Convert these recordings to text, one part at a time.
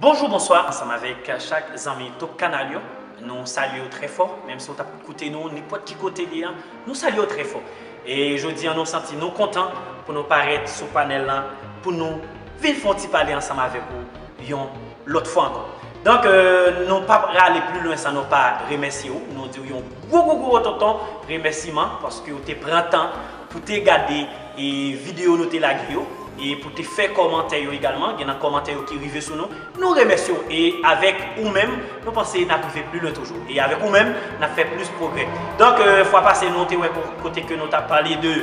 Bonjou bonswa ansanm avèk chak zanmi top kanal yo nou salye yo trè fò menm si ou tap koute nou nenpòt ki kote li an nou salye yo trè fò e jodi an nou santi nou kontan pou nou parèt sou panèl lan pou nou vin fon ti pale ansanm avèk ou yon lòt fwa ankò donk nou pap rale pli lwen san nou pa remèsye ou nou diw yon gwo gwo gwo ototon remèsiman paske ou te pran tan Pou te gade video nou te lage yo e pou te fè kòmantè yo egalman, gen nan kòmantè yo ki rive sou nou, nou remèsye w e avèk ou menm nou panse nap rive pli lwen toujou e avèk ou menm nap fè plis pwogrè. Donk fwa pase nou te wè kote ke nou ta pale de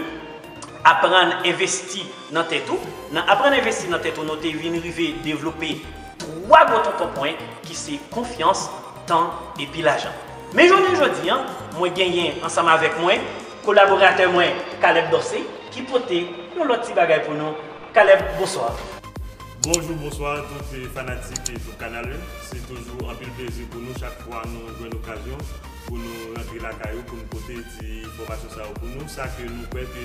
aprann envesti nan tèt ou, nan aprann envesti nan tèt ou nou te vin rive devlope 3 gwo tonton pwen ki se konfyans, tan epi lajan. Men jounen jodi an mwen genyen ansanm avèk mwen. Kolaboratè mwen Caleb Dorcé ki pote yon lòt ti bagay pou nou Caleb bonswa. Bonjou bonswa tout fanatik Jouk Kanal yo se toujou anpil plezi pou nou chak fwa nou jwenn okazyon pou nou rantre lakay ou pou nou pote ti enfòmasyon sa yo pou nou sa ke nou kwè ke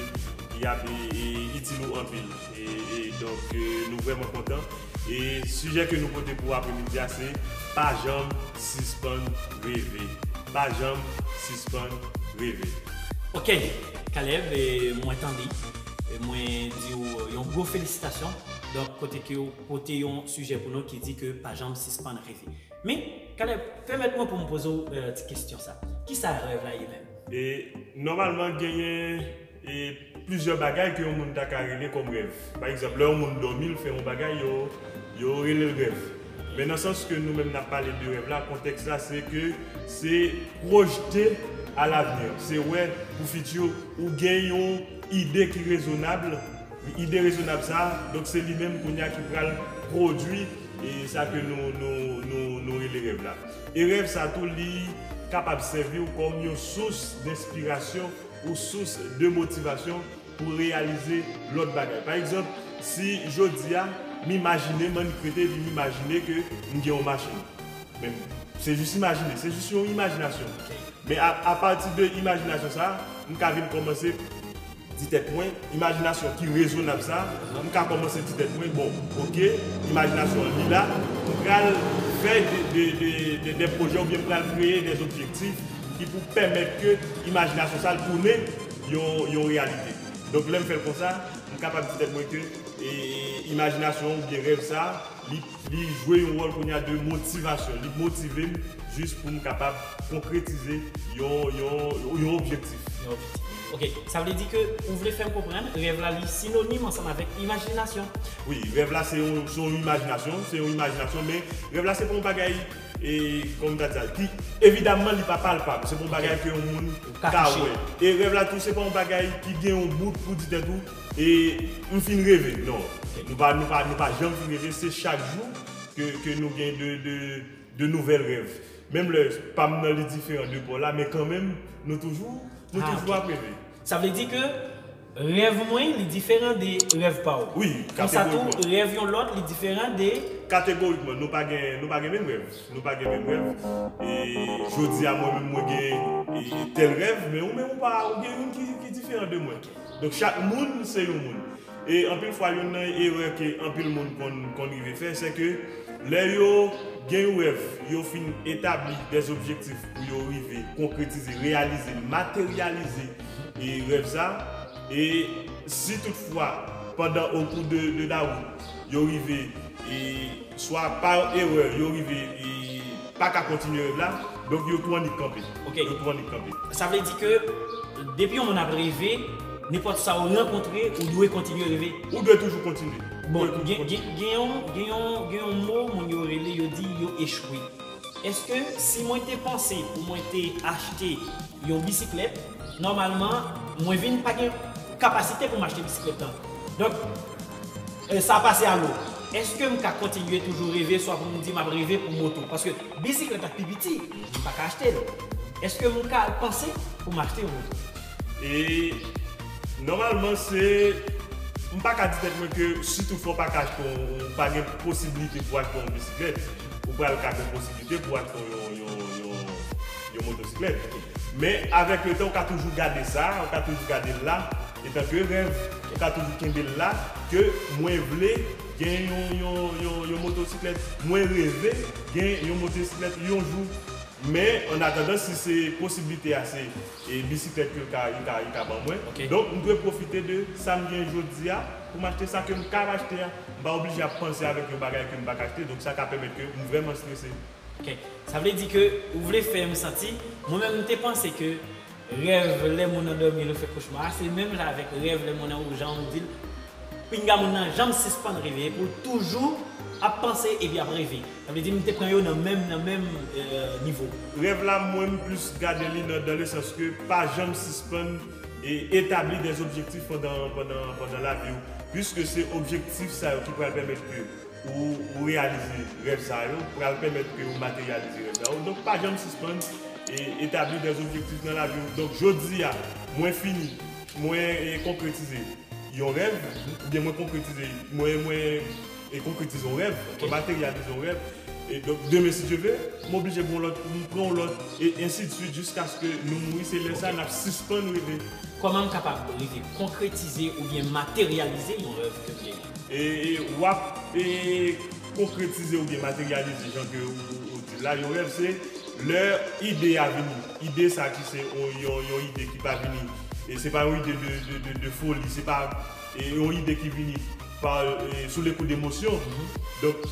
yap itil ou anpil. E donk nou vrèman kontan. E sijè ke nou pote pou apremidi a se pa janm sispann reve. Pa janm sispann reve. Ok Kalev mwen tande e mwen di ou yon gwo felisitasyon donk kote ke ou pote yon sijè pou nou ki di ke pa janm sispann reve. Men Kalev pèmèt mwen pou m poze ou ti kesyon sa. Kisa rèv la ye menm? E nòmalman genyen. E plizyè bagay ke yon moun ta ka rele kòm rèv. Pa egzanp, lè yon moun dòmi, l fè yon bagay, yo, yo rele l rèv. Men nan sans ke nou menm n ap pale de rèv la, kontèks la se ke se pwojte a lavni, se wè pou fiti, ou gen yon ide ki rezonab, ide rezonab sa a, donk se li menm kounye a ki pral pwodui e sa ke nou, nou, nou, nou rele rèv la. E rèv sa tou li kapab sèvi w kòm yon sous denspirasyon. ou sous de motivasyon pou reyalize lòt bagay. Pa egzanp, si jodi a, m imajine, m annik rete epi m imajine ke m gen yon machin. Men, se jis imajine, se jis yon imajinasyon. Men apati de imajinasyon sa a, m ka vin kòmanse di tèt mwen, imajinasyon ki rezonab sa a, m ka kòmanse di tèt mwen, bon, oke, imajinasyon an li la, m pral fè de pwojè oubyen m pral kreye de objektif, ki pou pèmèt ke imajinasyon sa l tounen yon reyalite. Donk lè m fè l konsa, m kapab di tèt mwen ke imajinasyon an oubyen rèv sa a, li jwe yon wòl kounye a de motivasyon, li motive m jis pou m kapab konkretize yon objektif. Ok, sa vle di ke ou vle fè m konprann rèv la li sinonim ansanm avèk imajinasyon? Wi, rèv la se yon imajinasyon, se yon imajinasyon men rèv la se pa yon bagay. E kòman m ta di sa? Ki evidamman li pa palpab, se pa yon bagay ke yon moun ka wè. E rèv la tou se pa yon bagay ki gen yon bout pou di tèt ou e m fin reve. Non, nou pa nou pa nou pa janm fin reve, se chak jou ke ke nou gen de de de nouvèl rèv. Menm lè pa m nan li diferan de pa w la men kanmenm nou toujou nou toujou ap reve. Sa vle di ke Rèv mwen, li diferan de rèv pa w. Wi, kategorikman. Konsa tou, rèv yon lòt, li diferan de. Kategorikman, nou pa gen, nou pa gen menm rèv. Nou pa gen menm rèv. E, jodi a, mwen menm mwen gen tèl rèv, men ou menm ou pa, ou gen youn ki, ki diferan de mwen. Donk chak moun se yon moun. E, anpil fwa youn nan erè ke anpil moun konn, konn rive fè, se ke lè yo gen yon rèv, yo fin etabli dè objektif pou yo rive konkretize, reyalize, materyalize. e rèv sa e si tout fwa pandan o kou de de la wout yo rive e swa par erè yo rive e pa ka kontinye rèv la donk yo tou annik kanpe ok yo tou annik kanpe. Sa vle di ke depi yon moun ap reve nenpòt sa ou rankontre ou dwe kontinye reve? Ou dwe toujou kontinye. Bon gen gen gen yon gen yon gen yon mo moun yo rele yo di yo echwe. Eske si mwen te panse pou mwen te achte yon bisiklèt, nòmalman mwen vin pa gen kapasite pou m achte bisiklèt lan? Donk, sa pase a lou. Eske m ka kontinye toujou reve swa pou m di m ap reve pou moto? Paske bisiklèt la pi piti, m pa ka achte l. Eske m ka panse pou m achte yon moto? E, nòmalman se, m pa ka di tèt mwen ke si tou fwa w pa ka achte yon, ou pa gen posibilite pou achte yon bisiklèt. ou pral ka gen posiblite pou achte yon motosiklèt. Men, avèk le tan, ou ka toujou gade sa, ou ka toujou gade l la etanke rèv, ou ka toujou kenbe l la ke mwen vle gen yon motosiklèt, mwen reve gen yon motosiklèt yon jou. Men, an atandan, si se posiblite a se bisiklèt yo ka ban mwen, donk m dwe pwofite de sa m gen jodi a. Pou m achte sa ke m kab achte a, m pa oblije ap panse avèk yon bagay ke m pa ka achte, donk sa ka pèmèt ke m vrèman strese. Ok. Sa vle di ke ou vle fè m santi, mwen menm m te panse ke rèv lè moun nan dòmi lè w fè kochma a, se menm jan avèk rèv lè moun nan ou jan ou di l, pinga moun nan janm sispann reve epi w toujou ap panse epi ap reve. Sa vle di m te pran yo nan menm nan menm nivo. Rèv la mwen m plis gade li nan dan le sans ke pa janm sispann. E etabli des objectifs pandan lavi ou. Puiske se objektif sa yo ki pral pèmèt ke ou reyalize rèv sa yo, pral pèmèt ke ou materyalize rèv sa yo. Donk pa janm sispann etabli des objectifs nan lavi ou. Donk jodi a, mwen fini, mwen konkretize yon rèv, oubyen mwen konkretize, mwen E konkretize yon rèv, mwen materyalize yon rèv, e donk demen si Dye ve, m oblije gen yon lòt, m pran yon lòt, e ensidsuit jiskaske nou mouri, se lè sa n ap sispann reve. Kòman m kapab rive konkretize oubyen materyalize yon rèv ke m genyen? E w ap konkretize oubyen materyalize jan ke ou di l la, yon rèv se lè ide a vini, ide sa ki se yon ide ki pa vini, se pa yon ide de foli, se pa. Yon ide ki vini sou le kou demosyon. Donk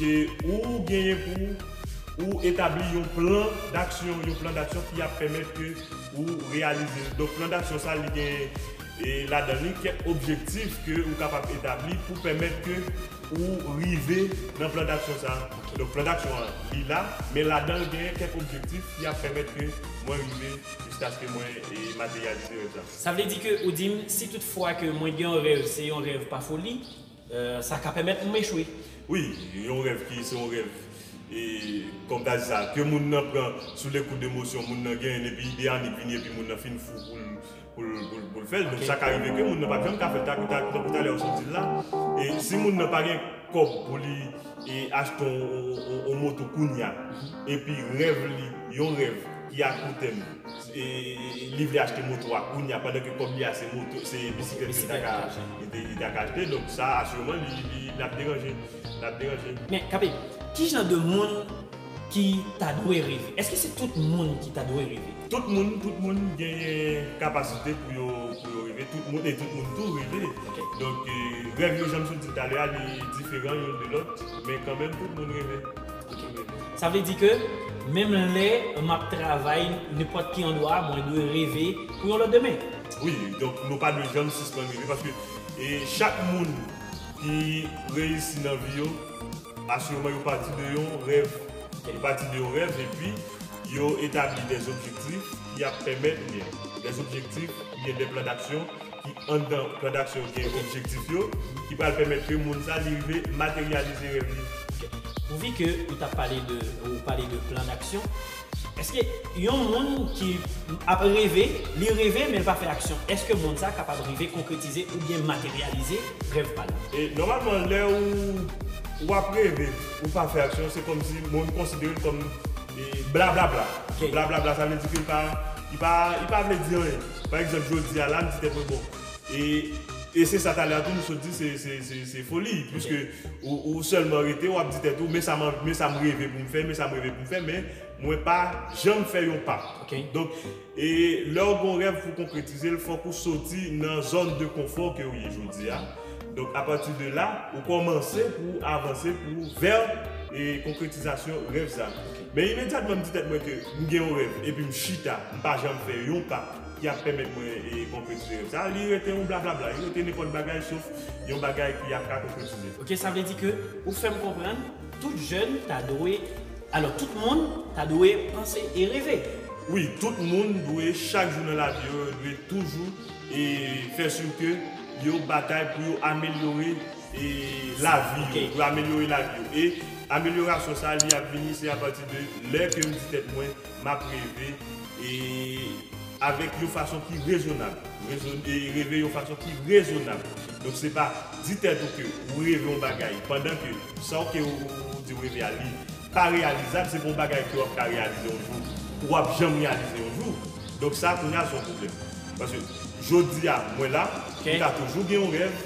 ou genyen pou ou etabli yon plan daksyon, yon plan daksyon ki ap pèmèt ke ou reyalize l. Donk plan daksyon sa li gen ladan li kèk objektif ke ou kapab etabli pou pèmèt ke ou rive nan plan daksyon sa. Donk plan daksyon an li la, men ladan l gen kèk objektif ki ap pèmèt ke mwen rive jiskaske mwen materyalize rèv la. Sa vle di ke ou di m si tout fwa ke mwen gen yon rèv se yon rèv pa foli, sa ka pèmèt m echwe. Wi, yon rèv ki se yon rèv e kòm ta di sa ke moun nan pran sou le kou de emosyon moun nan genyen epi ide anik vini epi moun nan fin fou pou l pou l pou l fè l donk sa ka rive ke moun nan pap janm ka fè l ta tankou talè ou sot di l la e si moun nan pa gen kòb pou li e achte yon yon yon moto kounya epi rèv li yon rèv ki a kou tèm. Li vle achte moto a kounya pandan ke kòb li a se moto se bisiklèt ke li ta ka achte donk sa asireman li ap deranje li ap deranje. Men Kape, ki jan de moun ki ta dwe reve? Eske se tout moun ki ta dwe reve? Tout moun, tout moun genyen kapasite pou yo pou yo reve, tout moun e tout moun tou reve donk rèv yo jan m sot di l talè a li diferan youn de lòt men kanmenm tout moun reve. Sa vle di ke menm lè map travay nenpòt ki andwa mwen dwe reve pou yon lòt demen. Wi, donk nou pa dwe janm sispann reve paske chak moun ki reyisi nan vi yo asireman yo pati de yon rèv, yo pati de yon rèv epi yo etabli dè objektif ki ap pèmèt ou byen dè objektif ou byen dè plan daksyon. ki anndan plan daksyon yo gen objektif yo ki pral pèmèt ke moun sa li rive materyalize rèv li. Pouvi ke ou ta pale de ou pale de plan daksyon, eske yon moun ki ap reve, li reve men li pa fè aksyon, eske moun sa kapab rive konkretize oubyen materyalize rèv pa li? E nòmalman lè ou ou ap reve ou pa fè aksyon se kòmsi moun konsidere l kòm blablabla, blablabla sa vle di ke li pa li pa li pa vle di anyen. Pa egzanp jodi a la m di tèt mwen bon e e se sa talè a tou m sot di se foli piske ou sèlman rete w ap di tèt ou men sa men sa m reve pou m fè men sa m reve pou m fè men mwen pa janm fè yon pa donk e lè w gen yon rèv pou w konkretize l fòk ou soti nan zòn de konfò ke w ye jodi a donk apati de la ou kòmanse pou w avanse pou vè e konkretizasyon rèv sa. Men imedyatman m di tèt mwen ke m gen yon rèv epi m chita, m pa janm fè yon pa ki ap pèmèt mwen konkretize rèv sa, li rete yon blablabla, li rete nenpòt bagay sof yon bagay ki ap ka konkretize. Ok, sa vle di ke ou fè m konprann tout jèn ta dwe, alò tout moun ta dwe panse e reve? Wi, tout moun dwe chak jou nan lavi yo, yo dwe toujou fè sur ke yo batay pou yo amelyore e lavi yo, pou amelyore lavi yo e amelyorasyon sa li ap vini se apati de lè ke m di tèt mwen m ap reve e avèk yon fason ki rezonab e reve yon fason ki rezonab donk se pa di tèt ou ke ou reve yon bagay pandan ke sa w ke ou di ou reve a li pa reyalizab se pa yon bagay ke w ap ka reyalize yon jou ou p ap janm reyalize yon jou donk sa kounya se yon pwoblèm paske jodi a mwen la m ka toujou gen yon rèv.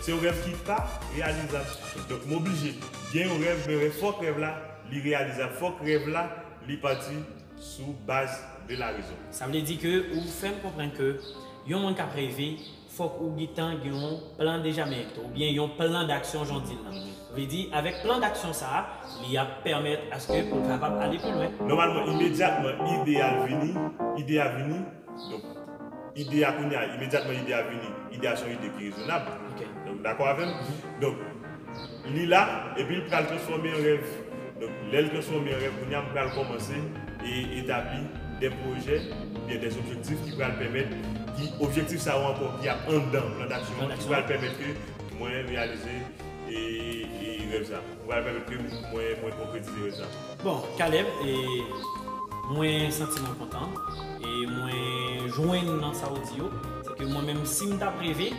Se yon rèv ki pa reyalizab donk m oblije gen yon rèv men rèv fòk rèv la li reyalizab fòk rèv la li pati sou baz de la rezon. Sa vle di ke ou fè m konprann ke yon moun k ap reve fòk ou gitan gen yon plan deja men tou oubyen yon plan daksyon jan w di l lan vle di avèk plan daksyon sa a li ap pèmèt aske pou l kapab ale pi lwen. Nòmalman imedyatman ide a vini ide a vini. Donk, ide a kounye a, imedyatman ide a vini, ide a se yon ide ki rezonab. Ou dakò avè m? Donk, li la, epi l pral transfòme an rèv. Donk, lè l transfòme an rèv, kounye a m pral kòmanse etabli de pwojè oubyen de objektif ki pral pèmèt, ki objektif sa yo ankò ki ap anndan plan daksyon an, ki pral pèmèt ke mwen reyalize rèv sa. Ou pral pèmèt ke mwen mwen konkretize yo sa. Bon Caleb e mwen santi mwen kontan e mwen jwenn nan sa ou di yo se ke mwen menm si m tap reve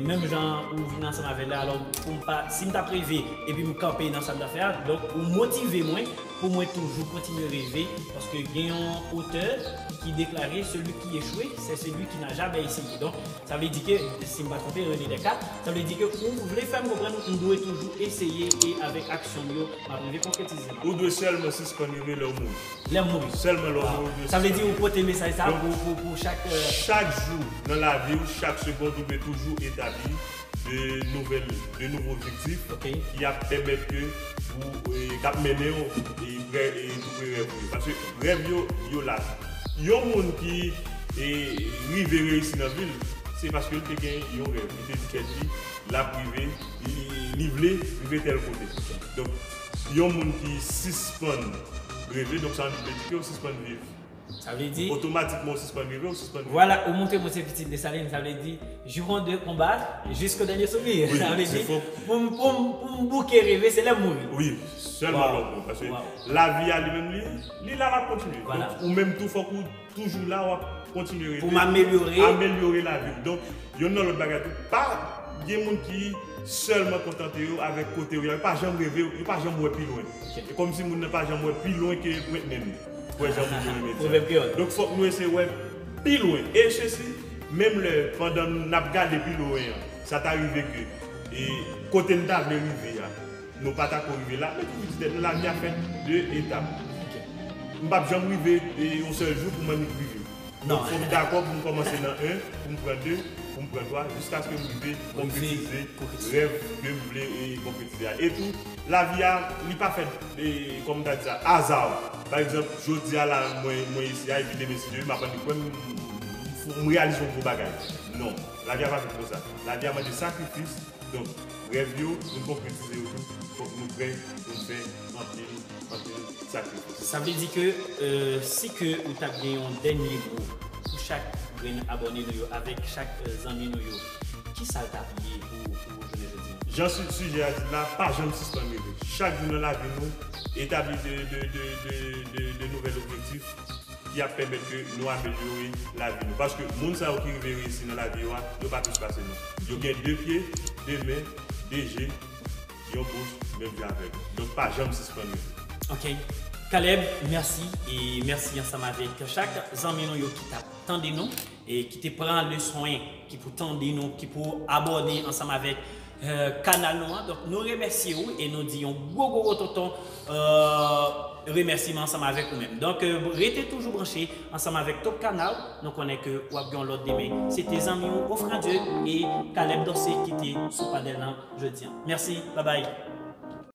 menm jan ou vin ansanm avè la alò pou m pa si m tap reve epi m kanpe nan sa m tap fè a donk ou motive mwen pou mwen toujou kontinye reve paske gen yon otè ki deklare celui qui echoue c'est celui qui n'a jamais essayé donk Sa vle di ke, si m pa twonpe, René Descartes, sa vle di ke ou vle fè m konprann m dwe toujou eseye e avèk aksyon m yo, m ap rive konkretize l? Ou dwe sèlman sispann reve lè w mouri. Lè m mouri. Sèlman lè w mouri ou dwe sispann reve. Sa vle di ou pote mesaj sa a pou chak. Chak jou nan lavi ou, chak segond ou dwe toujou etabli de nouvèl, de nouvo objektif ki ap pèmèt ke. kap mennenw prè tou prè rèv ou yo paske rèv yo yo la tou yon moun ki rive reyisi nan vil se paske li te gen yon rèv li te di tèt li lap rive li vle rive tèl kote donk yon moun ki sispann reve donk sa vle di ke ou sispann viv. Sa vle di. Otomatikman ou sispann reve, ou sispann viv. Vwala, ou montre mwen se pitit Desalin, sa vle di, jouron de konba, jisko dènye soupir. Wi, se fo. Sa vle di, pou m bouke reve, se lè m mouri. Wi, sèlman lè w mouri. Paske lavi a li menm li, li la, l ap kontinye. Vwala. Ou menm tou fòk ou toujou la, w ap kontinye reve. Pou m amelyore. Amelyore lavi w. Donk, yonn nan lòt bagay tou, pa gen moun ki sèlman kontante yo avèk kote yo ye a. Yo pa janm reve, yo pa janm wè pi lwen. Se kòmsi moun nan pa janm wè pi lwen ke pwent nen li. Wè jan moun yo renmen di a. Donk fòk nou eseye wè pi lwen. E se si menm lè pandan n ap gade pi lwen an, sa ta rive ke kote n ta vle rive a, nou pa ta ko rive la? Mwen toujou di tèt mwen lavi a fèt de etap. M p ap janm rive yon sèl jou pou m annik rive. Non, fò m dakò pou m kòmanse nan 1, pou m pran 2, pou m pran 3, jiskaske m rive konkretize rèv ke m vle konkretize a. Etou, lavi a, li pa fèt, kòm m ta di sa, azaw. Pa egzanp, jodi a la, mwen isi a, epi demen si Dye vle, m ap annik wè m, m reyalize yon gwo bagay. Non, lavi a pa fèt konsa. Lavi a mande sakrifis, donk, rèv yo, pou n konkretize yo tou, fòk nou prè pou n fè anpil. Anpil sakrifis. Sa vle di ke si ke ou tap gen yon dènye mo pou chak grenn abòne nou yo avèk chak zanmi nou yo kisal tap ye pou jounen jodi an? Jan sijè a di la, pa janm sispann reve. Chak jou nan lavi nou etabli de nouvèl objektif ki ap pèmèt ke nou amelyore lavi nou. Paske moun sa yo ki rive reyisi nan lavi yo a, yo pa plis pase nou. Yo gen 2 pye, 2 men, 2 je. Yon bout menm jan avèm. Donk pa janm sispann rete. Ok Caleb merci e merci ansanm avek chak zanmi nou yo ki tap tande nou e ki te pran le swen ki pou tande nou ki pou abòne ansanm avek kanal nou an donk nou remèsye ou e nou di yon gwo gwo wototon remèsiman ansanm avèk ou menm donk rete toujou branche ansanm avèk Top Canal nou konnen ke wap gen yon lòt demen se te zanmi w Ofradieu e Caleb Dorcé ki te sou panèl lan jodi an mèsi babay.